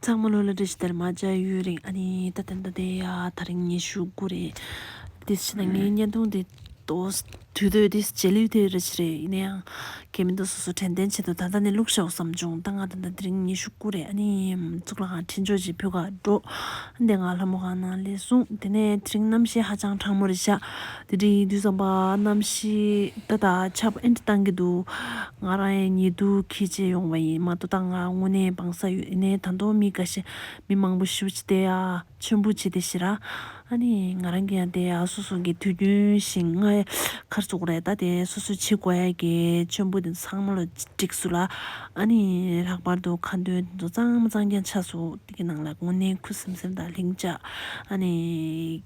ཚང་མ་ལོ་ལ་འདྲེ་ཞིག་དར་མ་བརྒྱ་ཡོད་རིང་ཨ་ནི་ད་ལྟ་འདི་དེ་ཡ་ད་རིང་ཉི་ཤུ་དགུ་རེད། དེ་ཕྱི་ན་ངའི་བརྙན་ཐུང་དེ་ཏོས་དུས་སྟོད་དེ་རྗེས་ལུས་དེ་རེད་ཆི་རེད་ཡིན་ན་ཡང་གལ་མི་འདུག་སོ་སོ་དྲན་ཐན་བྱེད་དུ་ད་ལྟ་ནས་བླུག་ཤའོ་བསམ་བྱུང་ད་ང་ད་ལྟ་འདི་རིང་ཉི་ཤུ་དགུ་རེད་ཨ་ནི་གཙུག་ལག་ཁང་ཕྲིན་ཆོག་ཅིག་ཕུད་ཁ་འགྲོ་འདི་ང་ལྷ་མོ་གང་ན་ལས་གསུངས་དེ་ནས་དེ་རིང་རྣམ་ཤེས་ཧ་ཅང་དྲང་མོ་རེད་ཤག་དེ་རིང་དུས་བཟང་པ་གནམ་གཤིས་ད་ལྟ་ཆར་པ་ཨེ་འདྲ་གཏང་གི་འདུག་ང་རང་ཡང་ཉེ་དུས་ཁྱི་བྱེད་ཡོང་བ་ཡིན་མ་ཏོ་ད་ང་དངོས་གནས་འབངས་ས་ཡོད་ནས་ད་མདོ་མི་དགའ་ཞིང་མི་མང་པོ་ཤི་བོ་བྱེད་དེ་ཡ་མཆོད་འབུལ་བྱེད་དེ་ཞེས་ར་ཨ་ནི་ང་རང་གི་ཡང་དེ་ཡ་སོ་སོ་གི་དུས་རྒྱུན་བཞིན་ང་ཡ་ཁར་བཙུགས་རེད་ད་དེ་སོ་སོའི་ཆེ་དགོས་ཡ་གི་མཆོད་འབུལ་དེ་ཚོ་ཚང་མ་ལོ་བསྒྲིགས་སུ་ལ་ཨ་ནི་ལྷག་པར་དུ་ཁ་འདོན་དེ་ཚོ་གཙང་མ་གཙང་རྐྱང་ཆགས་སུ་དེ་གི་ནང་ལ་དངོས་གནས་ཁུ་སིམ་སིམ་དང་ལྷིང་འཇགས་ཨ་ནི།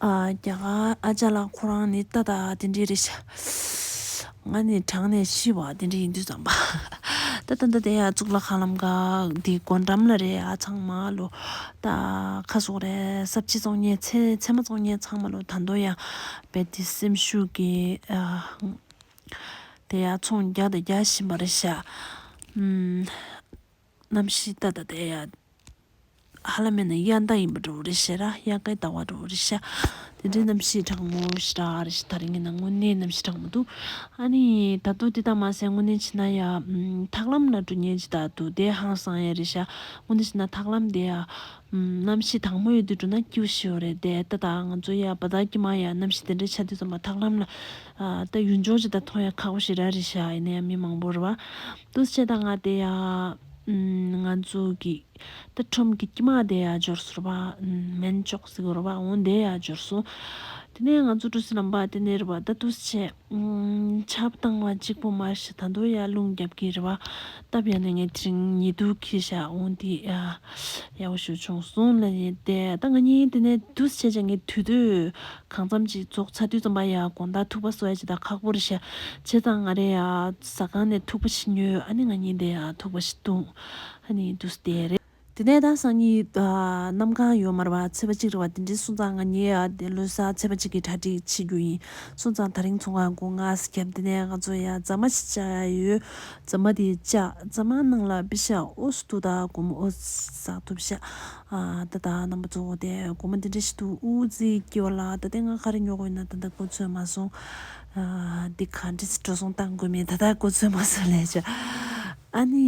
རྒྱ་གར་ཨ་ཅག་ལགས་ཁོ་རང་ནི་ཏག་ཏག་དེ་འདྲའི་རེད། ང་ནི་གྲང་ནས་ཤི་བ་དེ་འདྲ་ཡིན་དུས་བསམ་པ། ད་ལྟ་འདི་ཡང་གཙུག་ལག་ཁང་ལམ་ཀ་འདི་སྒོ་འགྲམ་ལ་རེད་ཨ་ཚང་མ་ལོ། ད་ཁ་གསོ་རེད་གསར་བརྗེ་བཙོང་ཉེན་ཚད་མ་བཙོང་ཉེན་ཚང་མ་ལོ་ད་མདོ་ཡང་རྦད་དེ་སེམས་ཤུགས་ཀྱི་དེ་ཡང་ཚོང་རྒྱག་དང་རྒྱག་བཞིན་པ་རེད་ཤག། རྣམ་ཤེས་ལྟ་དང་ལྡན་ཡང། ཧ་ལ་མེད་ན་དབྱར་ཟླ་ཡིན་པར་འགྲོ་བ་རེད་ཤེས་ར་དབྱར་ཁའི་ཟླ་བར་འགྲོ་བ་རེད་ཤ། དེ་འདྲའི་རྣམ་ཤེས་དྲང་མོ་ཞེ་དྲག་རེད་ཤེས་ད་རེས་ངན་ན་དངོས་གནས་རྣམ་ཤེས་དྲང་མོ་འདུག་ཨ་ནི། ད་དུང་དེ་དག་མ་ཟད་དངོས་གནས་བྱས་ན་ཡ། ཐག་ལམ་ན་འགྲོ་ཉེན་ཇི་ལྟར་འདུག་དེ་ཧང་སང་ཡ་རེད་ཤ། དངོས་གནས་བྱས་ན་ཐག་ལམ་དེ། རྣམ་ཤེས་དྭངས་མོ་ཡོད་དུས་འགྲོ་ན་སྐྱིད་བོ་ཤི་བ་རེད་དེ་ལྟ་དང་ང་ཚོ་ཡ་བ་དག་གི་མ་ཡ་རྣམ་ཤེས་དེ་འདྲ་ཆ་དུས་ཚང་མ་ཐག་ལམ་ལ། ལྟ་ཡུལ་འབྱོར་ཇི་ལྟར་མཐོང་ཡ་ཁག་པོ་ཞིག་ར་རེད་ཤ་ཡིན་ན་ཡང་མི་མང་པོར་བ། ཏུ་ཆེ་དང་ང་དེ་ཡང་ང་ཚོ་གི་ཏུ་ཁྲོམ་གི་དཀྱིས་མ་དེ་ཡང་འབྱོར་སོར་བ་མེན་ཅོག་ཟིག་རོ་བ་འོང་དེ་ཡང་འབྱོར་སོང། དེ་ནས་ང་ཚོ་གྲུ་སི་ལམ་པ་དེ་ནས་རི་བ་ད་ཏུ་ཆེ་ཆབ་བཏང་བ་གཅིག་པོ་མ་ཤི་ད་དུ་ཡང་རླུང་རྒྱབ་ཀྱི་རི་བ་སྟབས་ཡང་ནས་ངའི་དྲིང་ཉེ་དུ་ཁི་ཤ་འོང་དེ་ཡང་ཡག་པོ་ཞུ་བྱུང་སོང་ལ་ཉེ་དེ་ད་ང་གཉིས་དེ་ནས་ཏུ་ཆེ་ཆ་ངའི་དུས་དུ། གང་འཚམ་གྱིས་རྫོགས་ཚར་དུས་ཙམ་པ་ཡ་དགོངས་དག་ཐུག་པ་སོ་ཡ་ཇི་ལྟར་ཁག་པོ་རེ་བྱས། བྱས་ཙང་ང་རེ་ཡ་ཟ་ཁང་ནས་ཐུག་པ་ཞིག་ཉོས་ཨ་ནི་ང་གཉིས་དེ་ཡ་ཐུག་པ་ཞིག་འདུག་ཨ་ནི་འདུག་སྟེ་རེད། དེ་ནས་ད་སང་ཉིད་གནམ་གང་ཡོད་མར་བ་ཚེས་པ་གཅིག་རེ་བ་དེ་འདྲས་སོང་ཙང་ང་གཉིས་ཡ་དེ་ལོས་ས་ཚེས་པ་གཅིག་གི་གྲ་སྒྲིག་བྱེད་རྒྱུ་ཡིན་སོང་ཙང་ད་རིང་ཚོང་ཁང་སྒོ་ང་ས་ཁྱབ་དེ་ནས་ང་ཚོ་ཡ་རྫ་མ་ཞིག་བཅག་ཡ་ཡོད་རྫ་མ་དེ་བཅག་རྫ་མ་ནང་ལ་བི་ཤ་ཨོ་སི་ཏུ་དག་གོམ་ཨོ་ཟག་ཐུབ་བྱ། ད་ལྟ་རྣམ་པ་གཙོ་བོ་དེ་སྒོར་མོ་འདི་འདྲ་ཞིག་འདུག་འུ་ཚིག་སྐྱེ་བ་ལ་ད་ལྟའི་ང་ག་རེ་ཉོ་དགོས་ཡིན་ན་ད་ལྟ་གོ་ཚོད་མ་སོང། འདི་གང་འདྲི་ཚེ་འགྲོ་སོང་བཏང་དགོས་མིན་ད་ལྟ་གོ་ཚོད་མ་སོང་ལས་བྱ། ཨ་ནི་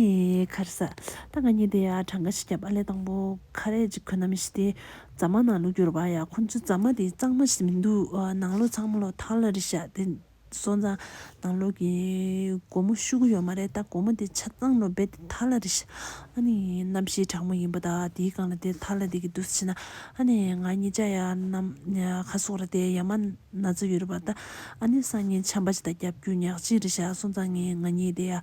ཁར་ས། ད་ང་གཉིས་དེ་ཡ་གྲངས་ཀ་ཞིག་བརྒྱབ་ཨ་ལས་དང་པོ་ཁ་རས་ཅིག་གོན་ནམ་ཞིག་དེ་རྫ་མ་ནང་ལུག་རྒྱུར་བ་ཡ་ཁོ་ཚོའི་རྫ་མ་དེ་གཙང་མ་ཞིག་མི་འདུག་ནང་ལོག་ཚང་མ་ལོག་ཐང་ལ་རི་ཤ་དེ་སོང་ཙང། དང་ལོག་གི་སྒོར་མོ་བཤུ་གི་ཡོད་མ་རེད་ད་སྒོར་མོ་དེ་ཆ་ཚང་ལོ་སྦེད་དེ་ཐར་ལ་རེ་ཤི། ཨ་ནི་རྣམ་ཤེས་དྲང་མོ་ཡིན་པ་དང་དེའི་སྒང་ལ་དེ་ཐར་ལ་དེ་གི་འདུག་ཤི་ན། ཨ་ནི་ང་གཉིས་ཅག་ཡ་ནམ་ཁ་སོག་ར་དེ་ཡ་མ་ན་ཚ་ཡོད་རེད་པ་ད། ཨ་ནི་སང་ཉིན་ཆམ་པ་ཅི་ད་རྒྱབ་རྒྱུ་ཉག་གཅིག་རེ་ཤག་སོང་ཙང་ངས་ང་གཉིས་དེ་ཡ།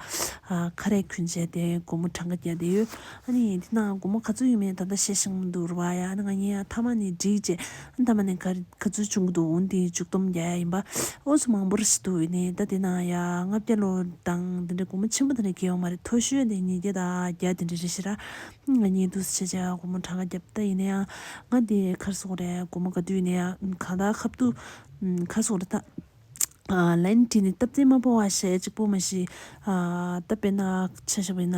ཁ་རས་ཁུན་བྱས་དེ་སྒོར་མོ་གྲངས་ཀ་བརྒྱ་དེ་ཡོད། ཨ་ནི་དེ་ནང་སྒོར་མོ་ག་ཚོད་ཡོད་མེད་ད་ད་བཤད་ཤིང་མི་འདུག་རེད་པ་ཡ་ཨ་ནི་ང་གཉིས་ཡ་མཐའ་མ་ནི་འགྲིག་བྱས། མདའ་མ་ནི་ག་ཚོད་བྱུང་གི་འདུག་འོན་ཏེ་བཅུ་སྟོང་བརྒྱ་ཡ་ཡིན་པ་ཨོ་སུ་མང་པོར་ཤི་འདུག་འོན་ནི་ཟླ་དེ་ན་ཡ་ལྔ་བརྒྱ་ལོ་གྲངས་དེ་འདྲའི་སྒོར་མོ་ཆེན་པོ་དེ་འདྲ་སྐྱེལ་ཡོང་བ་རེད་མཐོ་ཤོས་དེ་ཉིས་བརྒྱ་དང་བརྒྱ་དེ་འདྲ་རེད་ཤི་ར། ང་གཉིས་འདུག་སེ་བྱས་བྱས་སྒོར་མོ་གྲངས་ཀ་བརྒྱབ་ད་ཡིན་ན་ཡང་ང་དེའི་ཁར་སོང་རེད་སྒོར་མོ་ག་དུས་ཡིན་ན་ཡང་གང་ལྟར་ཁ་བཏུ། ཁ་སོང་རེད་ད། ལན། དེ་ནི་སྟབས་བདེ་མ་བོ་བ་ཞེ་གཅིག་པོ་མ་ཞིག། བཏབ་པས་ན་ཆ་བཞག་པས་ན།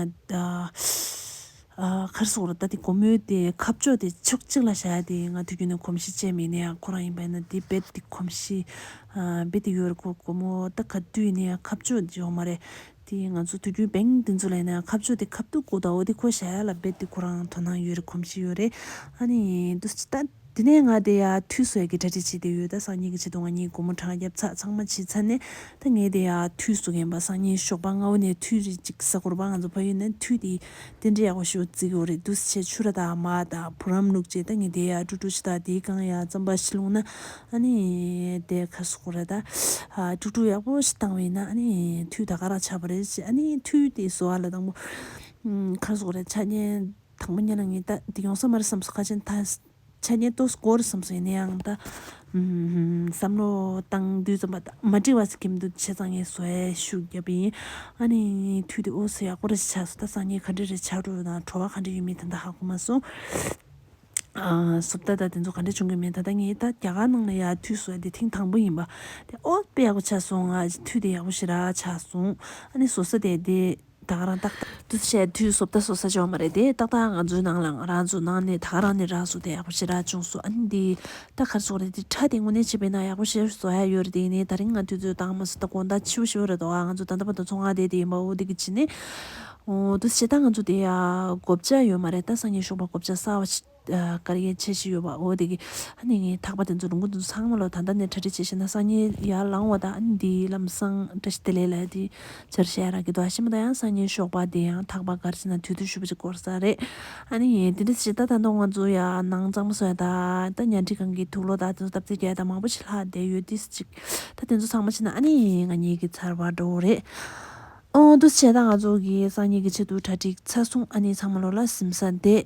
མཁར་སོགས་ལ་ལྟ་སྟེ་སྒོར་མོའི་དེ་ཁབ་ཅོག་དེ་ཕྱོགས་གཅིག་ལ་བཞག་སྟེ་ང་དུས་རྒྱུན་ནས་གོམས་གཤིས་སྤྱད་མེད་ནས་ཁོ་རང་ཡིན་པ་ཡིན་ན་དེ་རྦད་དེ་གོམས་གཤིས་རྦད་དེ་ཡོད་རེད་ཁོ་སྒོར་མོ་ལྟ་ག་དུས་ནས་ཁབ་ཅོག་འཇོག་མ་རེད། དེས་ང་ཚོ་དུས་རྒྱུན་བེང་འདི་ཚོ་ལས་ནས་ཁ་བཅོ་དེ་ཁ་བཏུག་གོ་ད་འོ་དེ་ཁོ་ཞལ་ལ་འབེབ་དེ་ཁོ་རང་དོ་སྣང་ཡོད་རེད་གོམས་གཤིས་ཡོད་རེད་ཨ་ནི་འདུག་ཅི་ད་དེ་ནས་ང་དེ་ཡག་འཐུས་ཟོས་གི་གྲ་སྒྲིག་བྱེད་དེ་ཡོད་ད་སང་ཉིན་གྱི་ཆེད་དུ་ང་གཉིས་སྒོར་མོ་གྲངས་བརྒྱབ་ཚགས་ཚང་མ་བྱས་ཚར་ནས་ད་ངས་དེ་ཡག་འཐུས་ཟོ་གིན་པ་སང་ཉིན་ཞོགས་པ་སྔ་བོ་ནས་འཐུས་རེད་ཅིག་གཟའ་འཁོར་བར་ང་ཚོ་ཕ་ཡུལ་ནས་འཐུས་དེ་རྟེན་འབྲེལ་ཡག་པོ་ཞིག་བརྩི་གི་འོ་རེད་འདུག་ཆེ་ཆུ་ར་དང་མ་དང་བུ་རམ་ལུག་བཅས་ད་ངས་དེ་ཡག་ཀྲུག་ཀྲུག་ཤི་ད་དེའི་རྐང་ཡག་རྩམ་པ་ཤི་ལུག་ན་ཨ་ནི། དེ་ཁ་སོག་པོ་རེད་ད། ཀྲུག་ཀྲུག་ཡག་པོ་ཞིག་བཏང་བས་ན་ཨ་ནི་མཐུས་ད་ག་རང་ཆགས་པ་རེད་ཅེས་ཨ་ནི་མཐུས་དེ་སོ་ཨ་ལ་དང་པོ། ཁ་སོག་རེད་ཆ་རྐྱེན་དང་པོ་གཉིས་ལ་ངས་ད་དེ་ཡོང་ས་མ་རེད་བསམས་སོ་ཁ་ཆེན་ད། ཆ་རྐྱེན་གཏོད་ས་གོ་རེད་བསམས་སོ་ཡིན་ན་ཡང་ད། བསམ་བློ་བཏང་དུས་རྩོམ་པ་ད་མ་འབྲི་བ་ཟེར་གྱི་མི་འདུག་བྱས་ཙང་ངས་གསོལ་ཞུགས་བརྒྱབ་པ་ཡིན། ཨ་ནི་མཐུས་དེ་འོ་སོ་ཡག་པོ་རེད་ཅེས་བྱས་སོ་ད་སང་ཉིན་ག་འདྲ་རེད་བྱ་འགྲོ་དང་བྲོ་བ་ག་འདྲ་ཡོད་མེད་དེ་འདྲ་ཧ་གོ་མ་སོང། སོབ་ད་ད་དེ་ཚོ་ག་འདྲ་བྱུང་གི་མེད་ད་ད་ངའི་ད་རྒྱ་གར་ནང་ལ་ཡར་འཐུས་སོ་དེ་ཐེངས་དང་པོ་ཡིན་པ་དེ་ཨོ་དཔེ་ཡག་པོ་ཆགས་སོང་ང་འཐུས་དེ་ཡག་པོ་ཞིག་ར་ཆགས་སོང་ཨ་ནི་སོ་ས་དེ་དེ་ད་ག་རང་ཏག་ཏག། འདུ་ཤེས་འཐུས་སོབ་ད་སོ་ས་བྱུང་མ་རེད་དེ་ཏག་ཏག་ང་ཚོའི་ནང་ལ་ང་རང་ཚོ་ནང་ནས་ད་ག་རང་ནས་ར་སོ་དེ་ཡག་པོ་ཞིག་ར་བྱུང་སོ་ཨ་ནི་དེ་ད་གར་སོ་རེད་དེ་ཁྲ་དེ་དངོས་གནས་བྱས་པས་ན་ཡག་པོ་ཞིག་བཟོ་ཡ་ཡོད་རེད་དེ་ནས་ད་རིང་ང་འཐུས་ཚོས་ད་ང་མ་སོ་ད་དགོངས་དག་ཆེ་བོ་ཞིག་ཡོད་རེད་དོ་ང་ཚོ་ད་ད་པ་ད་ཚོ་ང་དེ་དེ་ཡིན་པའོ་དེ་གི་ཕྱི་ནས། འདུ་བྱེད་དང་ང་ཚོ་དེ་གོ་བྱ་ཡོད་མ་རེད་ད་སང་ཉིན་ཞོགས་པ་གོ་བྱ་གསར་བ་ཞིག་ག་རེ་བྱེད་བཞིན་ཡོད་པ་འོ་དེ་གི་ཨ་ནི་ངའི་ཐག་པ་དེ་ཚོ་ལུང་ཁུག་དེ་ཚོ་ཚང་མ་ལོ་ད་ལྟ་ནས་གྲ་སྒྲིག་བྱེད་བཞིན་ན་སང་ཉིན་ཡར་ལངས་བ་དང་ཨ་ནི་དེའི་ལམ་སང་བཀྲ་ཤིས་བདེ་ལེགས་ལ་དེ་ཚོར་ཞལ་རག་གི་འདུག་ཨ་ཞེ་མོ་ད་ཡང་སང་ཉིན་ཞོགས་པ་དེ་ཡང་ཐག་པ་གར་བྱེད་ན་དུས་ཐུང་ཞུ་བ་ཅིག་འགོར་ས་རེད་ཨ་ནི་ཡིན་དེ་འདྲ་བྱེད་ད་ད་དུང་ང་ཚོ་ཡར་ནང་གཙང་མ་སོད་ད་ད་ཉལ་ཁྲི་གང་གི་ཐུགས་ལོ་ད་དེ་ཚོ་སྟབས་བདེ་བསྐྱལ་ད་མང་པོ་ཞིག་ལྷག་བསྡད་ཡོད་དེ་སུ་གཅིག་ད་དེ་ཚོ་ཚང་མ་བྱེད་ན་ཨ་ནི་ང་གཉིས་ཀྱི་ཚར་བ་འགྲོ་བོ་རེད། འདུ་བྱེད་དང་ང་ཚོ་གི་སང་ཉིན་གྱི་ཆེད་དུ་གྲ་སྒྲིག་ཚར་སོང་ཨ་ནི་ཚང་མ་ལོག་ལ་གཟིམ་ས་འདེད།